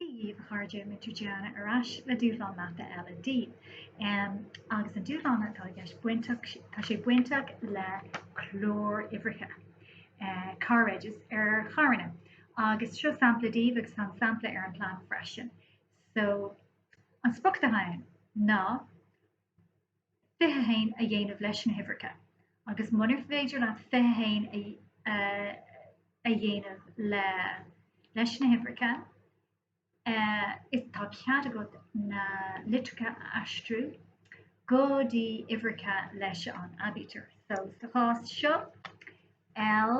Dia daoibh a chairde Múinteoir Diana ar ais le dúshlán mata eile daoibh agus an dúshlán, tá sé bainteach le cláruimhreacha, car regis, ar charranna agus seo sampla daoibh agus tá an sampla ar an plean freisin. So an sprioc atá ann ná 21 a dhéanamh leis na huimhreacha agus munar féidir leat 21 a dhéanamh leis na huimhreacha, is tá cead agat na litreacha a aistriú go dtí uimhreacha leis an aibítir. So sa chás seo, L.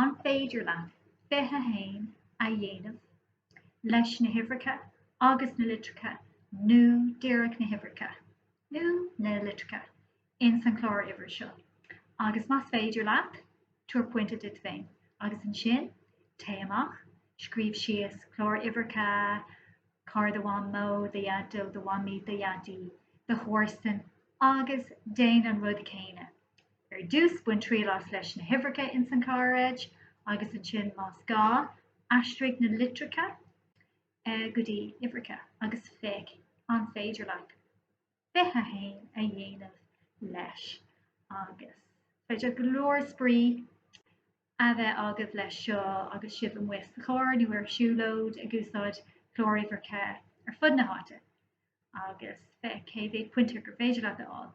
An féidir leat 21 a dhéanamh leis na huimhreacha agus na litreacha nó díreach na huimhreacha nó na litreacha ins an chláruimhir seo? Agus más féidir leat, tabhair pointe duit féin. Agus ansin, téigh amach, scríobh síos cláruimhreacha carr do Mhamó, do Dhaideo, do Mhamaí, do Dhaidí, do chomharsan agus déan an rud céanna. Ar dtús bain triail as leis na huimhreacha ins an car reg agus ansin más gá aistrigh na litreacha go dtí uimhreacha agus féach an féidir leat 21 a dhéanamh leis agus is féidir go leor spraoi a bheith agaibh leis seo agus sibh amuigh sa charr nó ar siúlóid ag úsáid cláruimhreacha ar fud na háite agus féach cé mhéad pointe gur féidir leat a fháil.